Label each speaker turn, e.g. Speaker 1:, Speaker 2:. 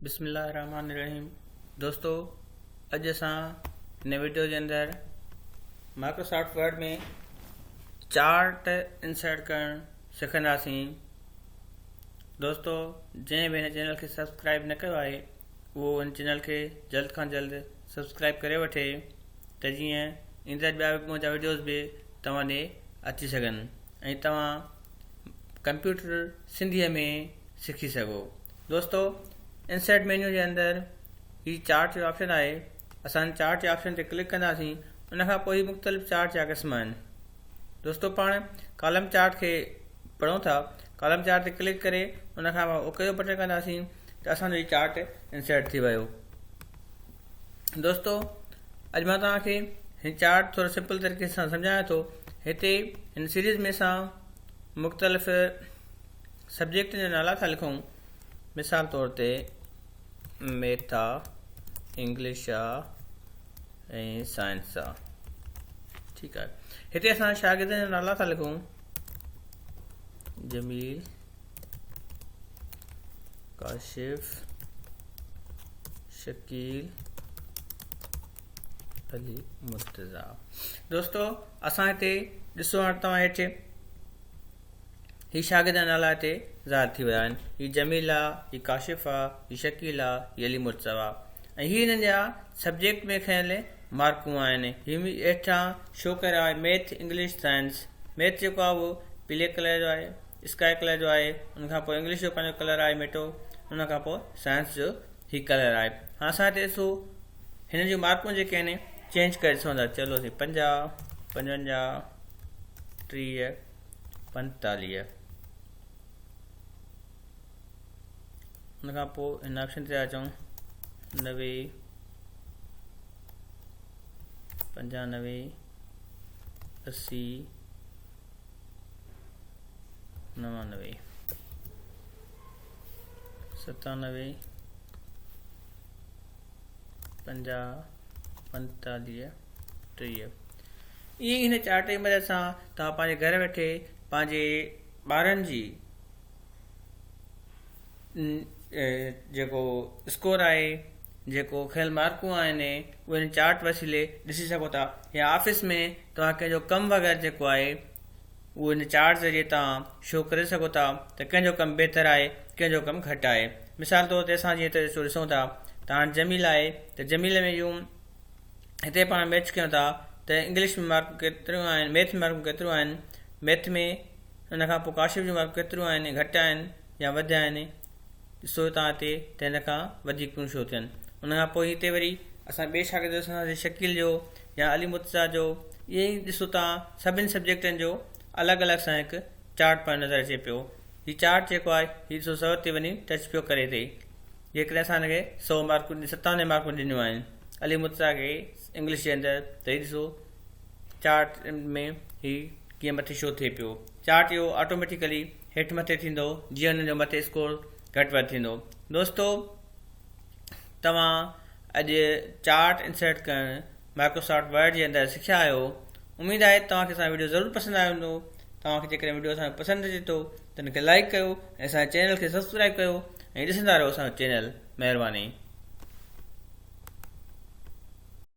Speaker 1: بسم الله الرحمٰن الرحيم دوستو اڄ اسان هن ويڊيو جي اندر مائڪروسافٽ ورڊ ۾ چارٽ انسرٽ ڪرڻ سکنداسين دوستو جنهن به هن چينل کي سبسڪرائب نه ڪيو آهي اهو هن چينل کي جلد کان جلد سبسڪرائب ڪري وٺي ته جيئن ايندڙ ٻيا به منهنجا ويڊيوز به توهان ڏي اچي سگهن ۽ توهان ڪمپيوٽر سنڌيء ۾ سکي سگهو. دوستو انسرٽ مينيو جي اندر هي چارٽ جو آپشن آهي اسان چارٽ جي آپشن تي ڪلڪ ڪنداسين ان کان پوء هي مختلف چارٽ جا قسم آهن دوستو پاڻ ڪالم چارٽ کي پڙهون ٿا ڪالم چارٽ تي ڪلڪ ڪري ان کان اوڪي جو بٽن ڪنداسين ته اسانجو هي چارٽ انسرٽ ٿي ويو دوستو اڄ مان توهان کي هي چارٽ ٿوري سمپل طريقي سان سمجهايان ٿو هتي هن سيريز ۾ اسان مختلف سبجيڪٽن جا نالا ٿا لکون مثال طور تي ميٿا انگلش جا ۽ سائنس جا ٺيڪ آهي هتي اسان شاگردن جا نالا ٿا لکون جميل ڪاشف شڪيل علي مرتضا دوستو اسان هتي ڏسو هاڻ توهان هيٺ هي شاگرد جا نالا هتي ظاهر ٿي ويا آهن هي جميل آ هي ڪاشف آ هي شڪيل آ هي علي مرتضا آ ۽ هي هنن جا سبجيڪٽ ۾ کيل مارڪون آهن هي هيٺان شو ڪري رهيا آهي ميٿ انگلش سائنس ميٿ جيڪو آهي اهو پلي ڪلر جو آهي اسڪائي ڪلر جو آهي ان کان پوء انگلش جو پنهنجو ڪلر آهي ميٽو ان کان پوء سائنس جو هي ڪلر آهي هاڻ اسان هتي ڏسو هن جون مارڪون جيڪي آهن چينج ڪري ڏسون ٿا چلو سي پنجاهه پنجونجاهه ٽيهه پنجتاليهه ان کان پوء هن آپشن تي اچون نوي پنجانوي اسي نوانوي ستانوي پنجاهه پنتاليهه ٽيهه ائين هن چارٽ جي مدد سان توهان پنهنجي گهر ويٺي پنهنجي ٻارن جي جيڪو اسڪور آهي جيڪو کيل مارڪون آهن اهي هن چارٽ وسيلي ڏسي سگهو ٿا يا آفيس ۾ توهان ڪنهن جو ڪم وغيره جيڪو آهي اهو هن چارٽ ذريعي تان شو ڪري سگهو ٿا ته ڪنهن جو ڪم بهتر آهي ڪنهن جو ڪم گهٽ آهي مثال طور تي اسان جيئن ته ڏسون ٿا ته هاڻ جميل آهي ته جميل ۾ جون هتي پاڻ ميچ ڪيون ٿا ته انگلش ۾ مارڪون ڪيتريون آهن ميٿ ۾ مارڪون ڪيتريون آهن ميٿ ۾ ان کان پوء ڪاشف جون مارڪون ڪيتريون آهن گهٽ آهن يا وڌ آهن ڏسو هتان هتي ته هن کان وڌيڪ ڪيون ڇو ٿين ان کان پوء هتي وري اسان ٻئي شاگرد ڏسنداسين شڪيل جو يا علي مرتضيٰ جو ائين ئي ڏسو تان سڀني سبجيڪٽن جو الڳ الڳ سان هڪ چارٽ پڻ نظر اچي پيو هي چارٽ جيڪو آهي هي ڏسو سو تي وڃي ٽچ پيو ڪري تي جيڪڏهن اسان هن کي سو مارڪون ستاونجاهه مارڪون ڏنيون آهن علي مرتضيٰ کي انگلش جي اندر ته هي ڏسو چارٽ ۾ هي ڪيئن مٿي شو ٿئي پيو. چارٽ اهو آٽوميٽيڪلي هيٺ مٿي ٿيندو جيئن ان جو مٿي اسڪور گهٽ وڌ ٿيندو. دوستو توهان اڄ چارٽ انسرٽ ڪرڻ مائڪروسافٽ ورڊ جي اندر سکيا آهيو. اميد آهي ته توهان کي اسان جو وڊيو ضرور پسند آيو هوندو. توهان کي جيڪڏهن وڊيو اسان جو پسند اچي ٿو ته ان کي لائيڪ ڪيو ۽ اسان جي چينل کي سبسڪرائيب ڪيو ۽ ڏسندا رهو اسان جو چينل. مهرباني.